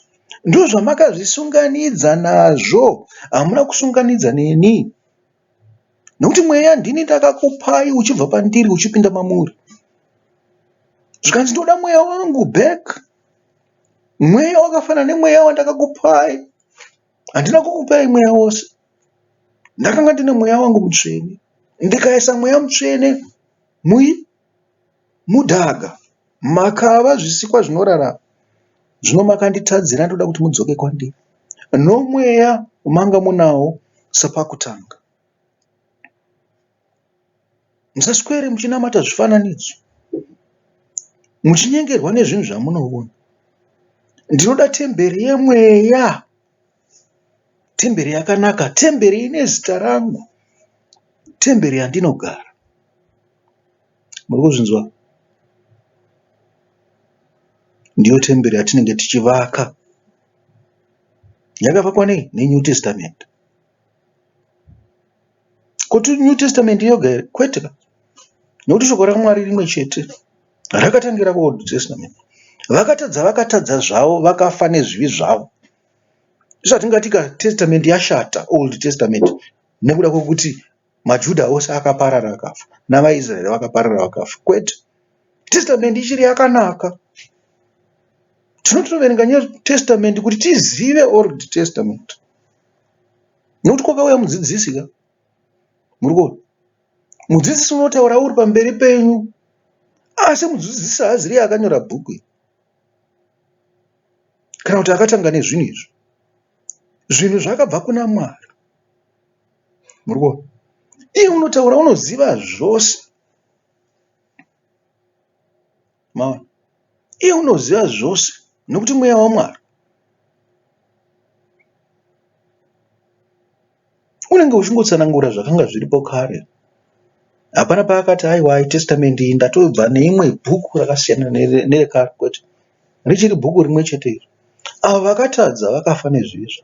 Ndozvamakazvisunganidza nazvo, hamuna kusunganidza neni. Nokuti mweya ndini ndakakupai uchibva pandiri uchipinda mamuri. Zvikanzi ndoda mweya wangu back. Mweya wakafanana nemweya wandakakupai. Handina kukupai mweya wose. Ndakanga ndine mweya wangu mutsvene. Ndikaisa mweya mutsvene mui Mudhaga, makava zvisikwa zvinorarama zvino makanditadzira ndoda kuti mudzoke kwandiri nomweya wamanga munawo sepakutanga. Musaswere muchinamata zvifananidzo muchinyengerwa nezvinhu zvamunoona. Ndinoda temberi yemweya, temberi yakanaka, temberi ine zita rangu, temberi yandinogara. Muri kuzvinzwa? Ndiyo temberi yatinenge tichivaka. Yakavakwa nei? NeNew Testament. Kuti New Testament yoga here? Kwete ka. Nokuti shoko raMwari rimwe chete rakatangira kuOld Testament. Vakatadza vakatadza zvavo, vakafa nezvivi zvavo. Zvatingati ka Testament yashata, Old Testament, nekuda kwekuti MaJuda ose akaparara akafa, navaIsraeri vakaparara vakafa. Kwete. Testament ichiri yakanaka. Tinotoverenga New Testament kuti tizive Old Testament. Nokuti kwakauya mudzidzisi ka. Muri kuona? Mudzidzisi unotaura uri pamberi penyu. Asi mudzidzisi haaziri akanyora bhuku iri. Kana kuti akatanga nezvinhu izvi. Zvinhu zvakabva kuna Mwari. Murikuona? Iye unotaura unoziva zvose. Maona? Iye unoziva zvose nokuti mweya waMwari. Unenge uchingotsanangura zvakanga zviripo kare. Hapana paakati aiwa testamende iyi ndatobva neimwe bhuku rakasiyana nerekare kwete. Richiri bhuku rimwe chete iri. Avo vakatadza vakafa nezvizvo.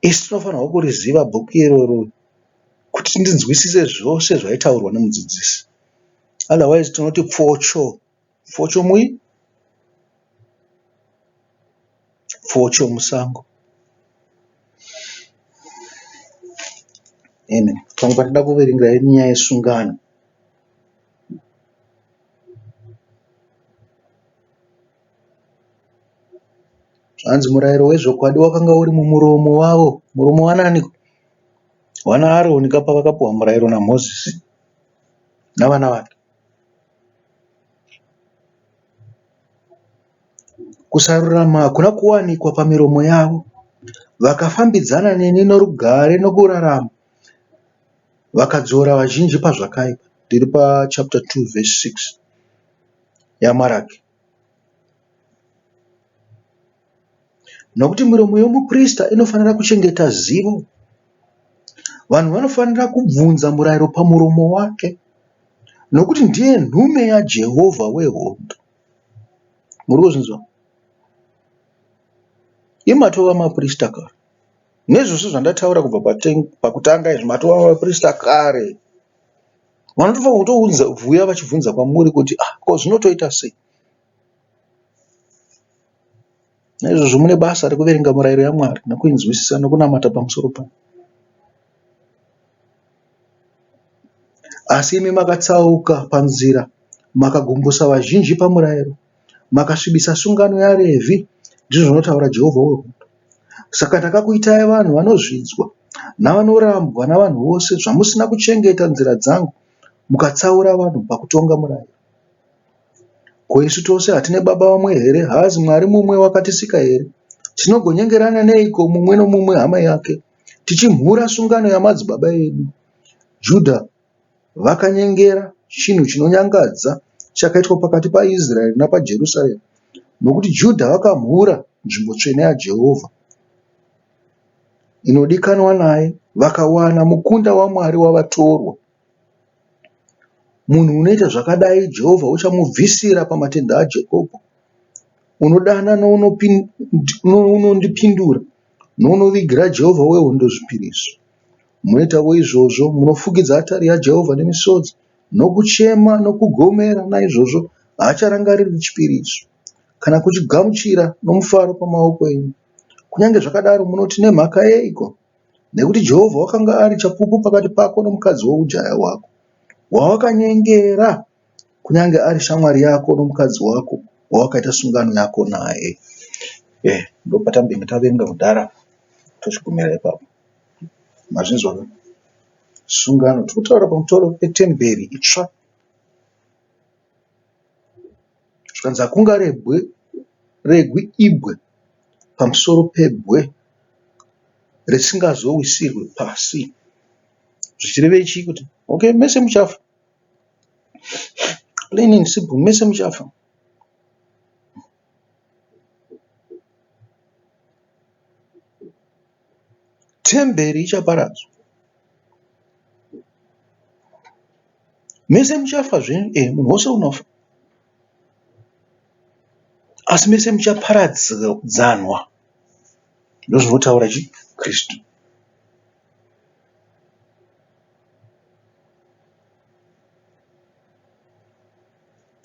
Isu tinofanirwa kuriziva bhuku iroro kuti tinzwisise zvose zvaitaurwa nemudzidzisi otherwise tinoti pfocho pfocho mui pfocho musango amen pamwe patinoda kuverenga nyaya yesungano Zvanzi murairo wezvokwadi wakanga uri mumuromo wavo. Muromo waaniko? WanaAroni ka pavakapuwa murairo naMozisi navana vake. Kusarurama hakuna kuwanikwa pamiromo yavo. Vakafambidzana neni norugare nokurarama, vakadzora vazhinji pazvakaipa. Tiri pachapita 2 vhesi 6 yaMaraki. Nokuti miromo yomuprista inofanira kuchengeta zivo. Vanhu vanofanira kubvunza murayiro pamuromo wake nokuti ndiye nhume yaJehovha wehondo. Muri kuzvinzwa? Imi matova maprista kare. Nezvose zvandataura kubva pakutanga izvi matova maprista kare. Vanotofa kutounza vuya vachibvunza kwamuri kuti ah ko zvinotoita sei. Naizvozvo mune basa rekuverenga murayiro yaMwari nekuinzwisisa nekunamata pamusoro payo. Asi imi makatsauka panzira, makagumbusa vazhinji pamurayiro. Makasvibisa sungano yaRevhi, ndizvo zvinotaura Jehovha wehondo. Saka ndakakuitai vanhu vanozvidzwa navanorambwa navanhu vose zvamusina kuchengeta nzira dzangu mukatsaura vanhu pakutonga murayiro. Ko isu tose hatine baba vamwe here? Haazi Mwari mumwe wakatisika here? Tinogonyengerana neiko mumwe nomumwe hama yake, tichimhura sungano yamadzibaba edu? Judha Vakanyengera chinhu chinonyangadza chakaitwa pakati paIsraeri nepaJerusarema nokuti Judha vakamhura nzvimbo tsvene yaJehovha inodikanwa naye vakawana mukunda waMwari wavatorwa. Munhu unoita zvakadai Jehovha uchamubvisira pamatendhe aJakobho. Unodana nounondipindura nounovigira Jehovha wehondo zvipiriso. Munoitavo izvozvo, munofukidza atari yaJehovha nemisodzi, nokuchema, nokugomera, naizvozvo haacharangariri chipiriso, kana kuchigamuchira nomufaro pamaoko enyu. Kunyange zvakadaro, munoti, Nemhaka yeiko? Nekuti Jehovha wakanga ari chapupu pakati pako nomukadzi woujaya hwako, wawakanyengera, kunyange ari shamwari yako nomukadzi wako, wawakaita sungano yako naye. Eh, ndopatange tavenga kudhara, tochigumira ipapo. Mazvinzwa ka? Sungano, tiri kutaura pamusoro petemberi itsva. Zvikanzi hakunga rebwe regwi ibwe pamusoro pebwe risingazowisirwe pasi. Zvichirevei chii kuti okay mese muchafa. Plain and simple mese muchafa. Temberi ichaparadzwa. Mese muchafa zvenyu, ee eh, munhu wose unofa, asi mese muchaparadzanwa, ndozvinotaura chi Kristu.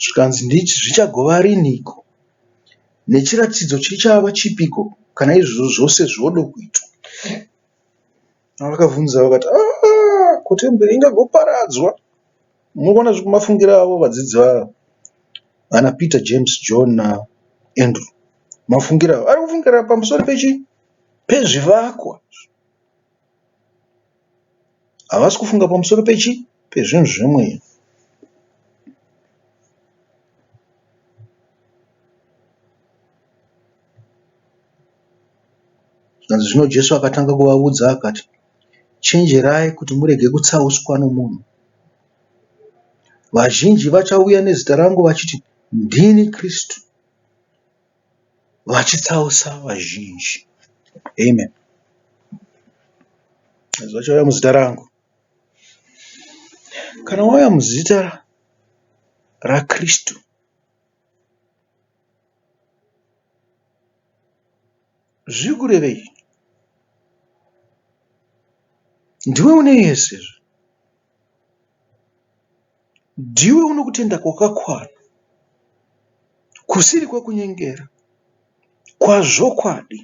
Zvikanzi ndichi zvichagova riniko? Nechiratidzo chichava chipiko kana izvozvo zvose zvodo kuitwa? Vakabvunza vakati, Aa, ko temberi ingagoparadzwa? Munoona zviri kumafungira avo vadzidzi vavo, vana Peter, James, John naAndrew. Mafungira avo ari kufungira pamusoro pechi? Pezvivakwa. Havasi kufunga pamusoro pechi pezvinhu zvemweya. Zvikanzi zvino Jesu akatanga kuvaudza akati, chenjerai kuti murege kutsauswa nomunhu. Vazhinji vachauya nezita rangu vachiti, ndini Kristu. vachitsausa vazhinji. Amen. Vanhu vachauya muzita rangu. Kana wauya muzita raKristu, zviri kurevei? Ndiwe une yese izvi. Ndiwe une kutenda kwakakwana, kusiri kwekunyengera, kwazvokwadi.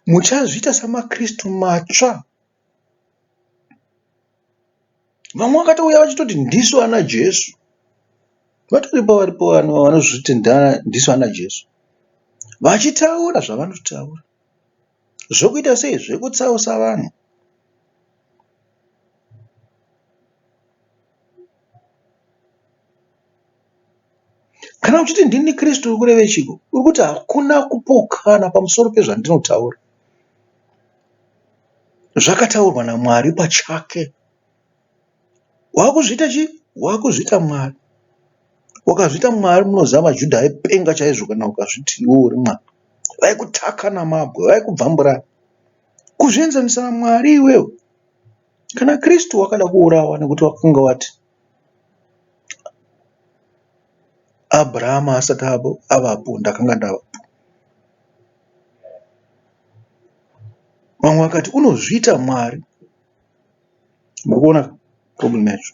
Muchazviita samaKristu matsva. Vamwe vakatouya vachitoti ndisu ana Jesu. Vatoripo varipo vanhu vanozviti ndisu ana Jesu vachitaura zvavanotaura. Zvokuita sei zvekutsausa vanhu? Kana uchiti ndini Kristu uri kureve chiko? Uri kuti hakuna kupokana pamusoro pezvandinotaura. Zvakataurwa naMwari pachake. Wakuzviita chii? Wakuzviita Mwari. Ukazviita Mwari munoziva maJuda aipenga chaizvo kana ukazviti iwe uri Mwari. Vaikutaka namabwe, vaikubvambura. Kuzvienzanisa naMwari iwewe. Kana Kristu wakada kuurawa nekuti wakanga wati Abrahama asati avapo ndakanga ndavapo. Vamwe vakati unozviita Mwari. Muri kuona problem yacho?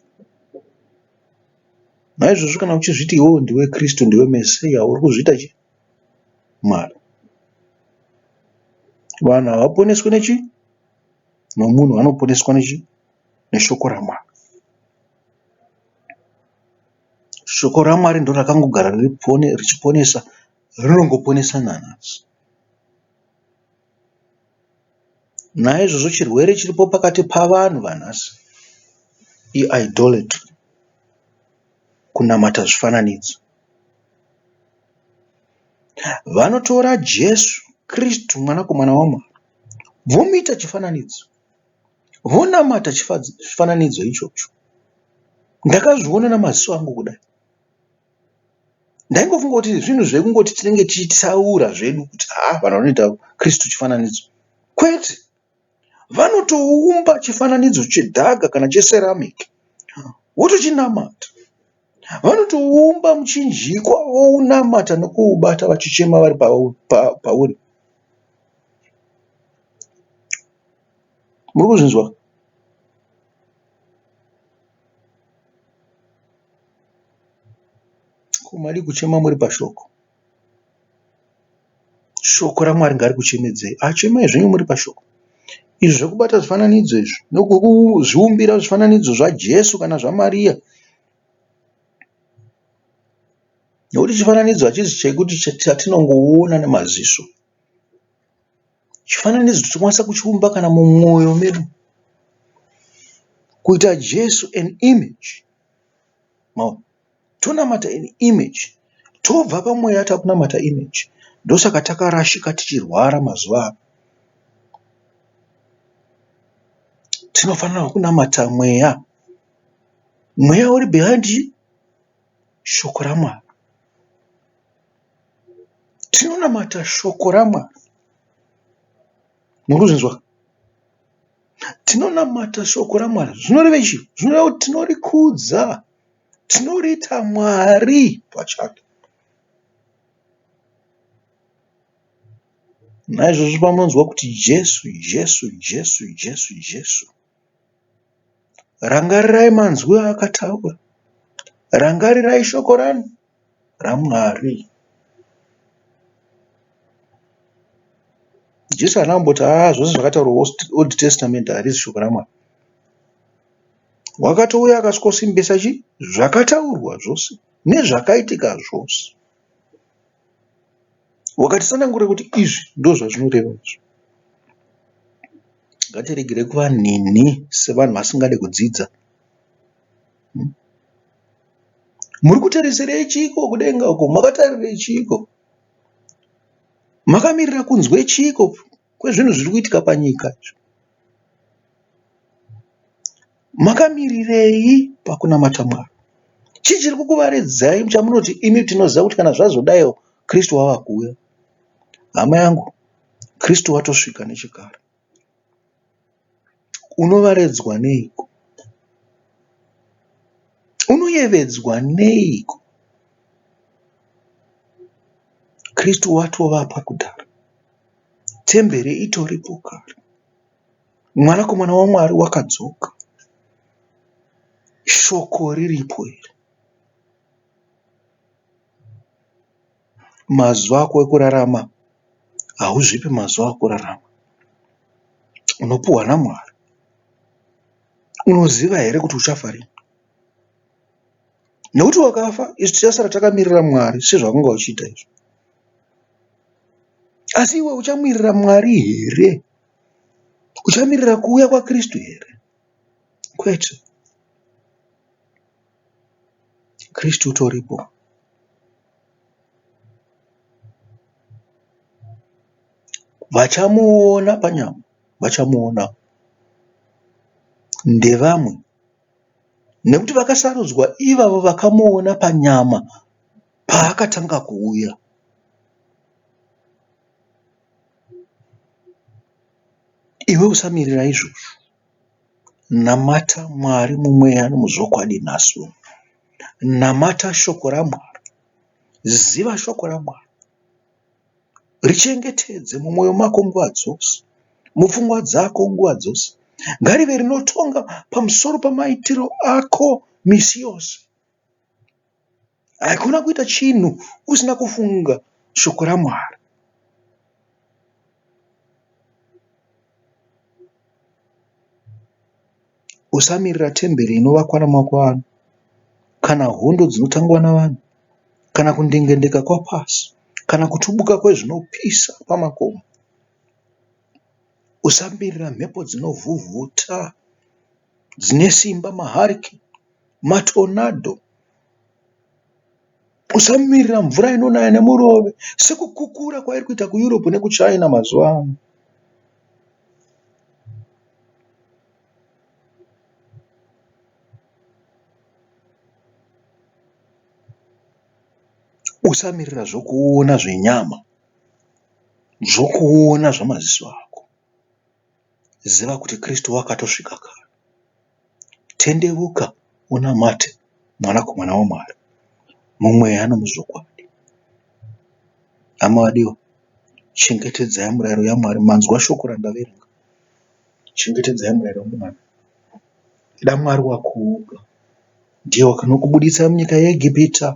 Naizvozvo kana uchizviti iwewe ndiwe Kristu, ndiwe Mesiya, uri kuzviita chi? Mwari. Vanhu havaponeswi nechi? Nomunhu vanoponeswa nechi? Neshoko raMwari. Shoko raMwari ndiro rakangogara riri pone, richiponesa, rinongoponesa nanhasi. Naizvozvo chirwere chiripo pakati pavanhu vanhasi i idolatry, kunamata zvifananidzo. Vanotora Jesu Kirisitu mwanakomana waMwari vomuita chifananidzo, vonamata chifananidzo ichocho. Ndakazviona nemaziso angu kudai. Ndaingofunga kuti zvinhu zvekungoti tinenge tichitaura zvedu kuti haa vanhu vanoita Kristu chifananidzo. Kwete, vanotoumba chifananidzo chedhaga kana checeramic votochinamata. Vanotoumba muchinjikwa vounamata nokuubata vachichema vari pauri. Muri kuzvinzwa? Ko madi kuchema muri pashoko. Shoko raMwari ngarikuchemedzei. Achemai zvenyu muri pashoko. Izvi zvekubata zvifananidzo izvi nekuzviumbira zvifananidzo zvaJesu kana zvaMaria nekuti chifananidzo hachizi chekuti chatinongoona nemaziso chifananidzo tinokwanisa kuchiumba kana mumwoyo medu kuita jesu an image Maona? Tonamata an image. Tobva pamweya takunamata image. Ndosaka takarashika tichirwara mazuva ano. Tinofanira kunamata mweya. Mweya uri behind chii? Shoko raMwari. Tinonamata shoko raMwari. Muri kuzvinzwa? Tinonamata shoko raMwari zvinorevei izvi? Zvinoreva kuti tinorikudza, tinoriita Mwari pachake. Naizvozvo pamunonzwa kuti Jesu, Jesu, Jesu, Jesu, Jesu, rangarirai manzwi aakataura, rangarirai shoko rani raMwari. Jesu haana kumboti haa ah, zvose zvakataurwa Old Testament harizi shoko raMwari. Wakatouya akasvikosimbisa chi zvakataurwa zvose nezvakaitika zvose. Wakatisanangurira kuti izvi ndozvazvinoreva izvi. Ngatiregere kuva nhinhi sevanhu vasingade kudzidza. Muri kutarisirei chiiko kudenga uko? Makatarirei chiiko? Makamirira kunzwe chiiko kwezvinhu zviri kuitika panyika? Makamirirei pakunamata Mwari? Chii chiri kukuvaredzai chamunoti imi tinoziva kuti kana zvazodayo Kristu wava kuuya? Hama yangu, Kristu watosvika nechekare. Unovaredzwa neiko? Unoyevedzwa neiko? Kristu watovapa kudhara. Temberi itoripo kare. Mwanakomana waMwari wakadzoka. Shoko riripo iri. mazuva ako ekurarama hauzvipi mazuva ekurarama unopiwa naMwari. Unoziva here kuti uchafa riini nekuti wakafa isu tichasara takamirira Mwari sezvawanga uchiita izvo. Asi iwe uchamirira Mwari here? Uchamirira kuuya kwaKristu here? Kwete. Kristu utoripo. Vachamuona panyama, vachamuona ndevamwe nekuti vakasarudzwa ivavo vakamuona panyama paakatanga kuuya. Iwe usamirira izvozvo. Namata Mwari mumweya nomuzvokwadi nhasi. Namata shoko raMwari. Ziva shoko raMwari. Richengetedze mumwoyo mako nguva dzose, mupfungwa dzako nguva dzose. Ngarive rinotonga pamusoro pamaitiro ako misi yose. Haikona kuita chinhu usina kufunga shoko raMwari. Usamirira temberi inovakwa namaoko evanhu kana hondo dzinotangwa navanhu kana kundengendeka kwapasi kana kutubuka kwezvinopisa pamakomo. Usamirira mhepo dzinovhuvhuta dzine simba mahurricane, matornado usamirira mvura inonaya nemurove sekukukura kwairi kuita kuEurope nekuChina mazuva ano. Usamirira zvokuona zvenyama, zvokuona zvamaziso ako. Ziva kuti Kristu wakatosvika kare. Tendeuka unamate Mwanakomana waMwari mumweya nomuzvokwadi. Hama vadiwa, chengetedzai murayiro yaMwari. Manzwa shoko randaverenga. Chengetedzai murayiro yaMwari. Ida Mwari wako woga. Ndiye wakanokubuditsa munyika yeEgipita,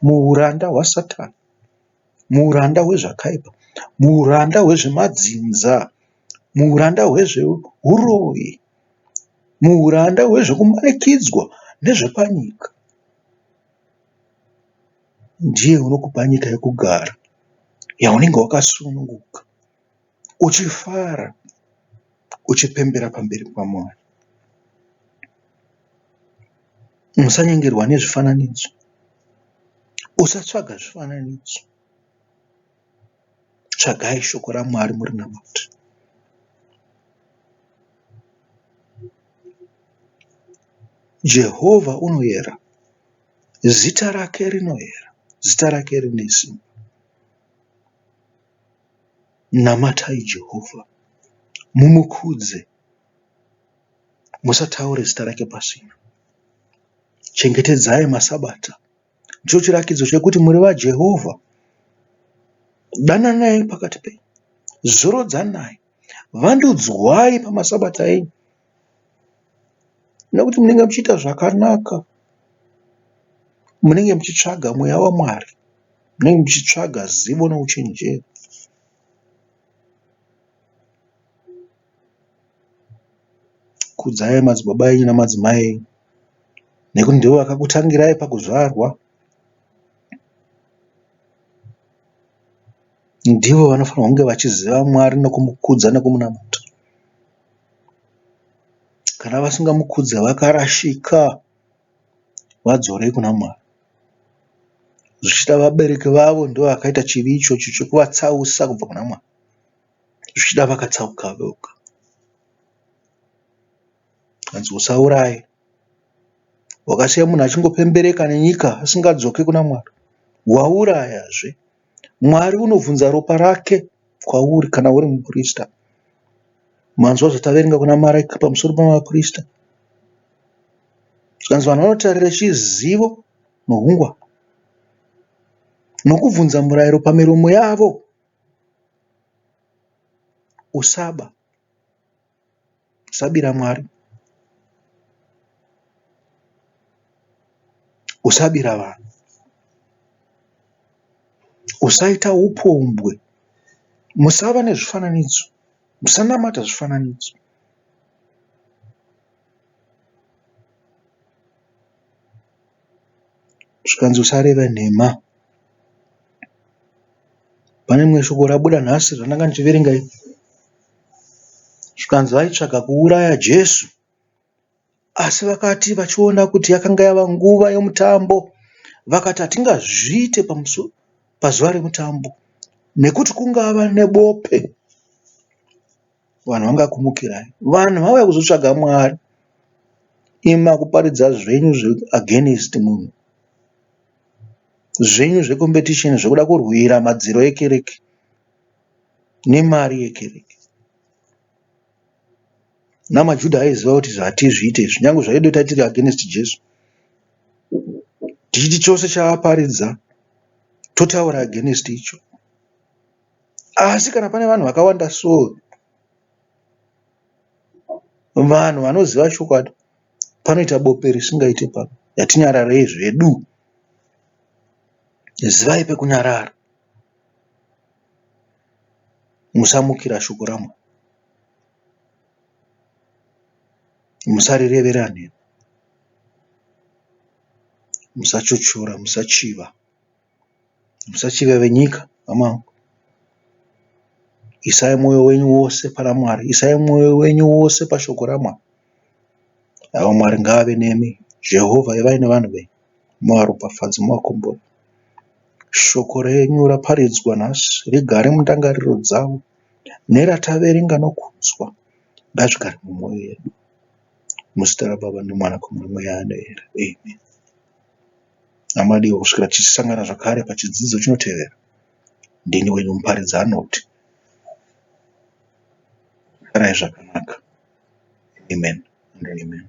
muuranda hwaSatani, muuranda hwezvakaipa, muuranda hwezvemadzinza muhuranda hwezvehuroyi, muhuranda hwezvekumanikidzwa nezvepanyika. Ndiye unokupa nyika yekugara yaunenge wakasununguka uchifara uchipembera pamberi paMwari. Musanyengerwa nezvifananidzo. Usatsvaga zvifananidzo. Tsvagai shoko raMwari murinamate. Jehovha unoyera, zita rake rinoyera, zita rake rine simba. Namatai Jehovha, mumukudze, musataure zita rake pasina. Chengetedzai masabata Ndicho chiratidzo chekuti muri vaJehovha. Dananai pakati penyu, zorodzanai, vandudzwai pamasabata enyu, nekuti munenge muchiita zvakanaka, munenge muchitsvaga mweya waMwari, munenge muchitsvaga zivo nouchenjeri. Kudzai madzibaba enyu nemadzimai enyu nekuti ndivo vakakutangirai pakuzvarwa. Ndivo vanofanirwa kunge vachiziva Mwari nekumukudza nekumunamata. Kana vasingamukudze vakarashika. Vadzorei kuna Mwari. Zvichida vabereki vavo ndivo vakaita chivi ichocho chekuvatsausa kubva kuna Mwari. zvichida vakatsauka voga hanzi usauraye wakasiya munhu achingopembereka nenyika asingadzoke kuna mwari waurayazve mwari unobvunza ropa rake kwauri kana uri muprista manzwa zvataverenga kuna maraika pamusoro pamaprista zvikanzi vanhu vanotarira chizivo nohungwa nokubvunza murayiro pamiromo yavo Usaba, usabira Mwari, usabira vanhu, usaita upombwe, musava nezvifananidzo, musanamata zvifananidzo. zvikanzi usareve nhema. Pane rimwe shoko rabuda nhasi randanga ndichiverenga iri zvikanzi vaitsvaga kuuraya Jesu asi vakati vachiona kuti yakanga yava nguva yemutambo vakati hatingazviite pazuva remutambo nekuti kungava nebope. Vanhu vangakumukirai? Vanhu vauya kuzotsvaga Mwari. Imi makuparidza zvenyu zve against munhu. Zvenyu zve competition zvekuda kurwira madziro ekereke nemari yekereke. NamaJuda aiziva kuti hatizviite izvi nyange zvaido tatiri against Jesu. Tichiti chose chaaparidza totaura against icho. Asi kana pane vanhu vakawanda so vanhu vanoziva chokwadi panoita bope risingaite pano ngatinyararei zvedu zivai pekunyarara musamukira shoko raMwari musarirevera nhema musachochora musachiva. Musachiva venyika hama isai moyo wenyu wose pana Mwari isai moyo wenyu wose pashoko raMwari hama Mwari ngaave nemi Jehovah ivai nevanhu venyu muvaropafadze muvakombore shoko renyu raparidzwa nhasi rigare mundangariro dzavo nerataverenga nokunzwa ngazvigare mumwoyo yedu muzita raBaba neMwana neMweya Anoera amen. naMadiwa kusvikira tichisangana zvakare pachidzidzo chinotevera. Ndini wenyu muparidzi Arnold. Farai zvakanaka. Amen and amen.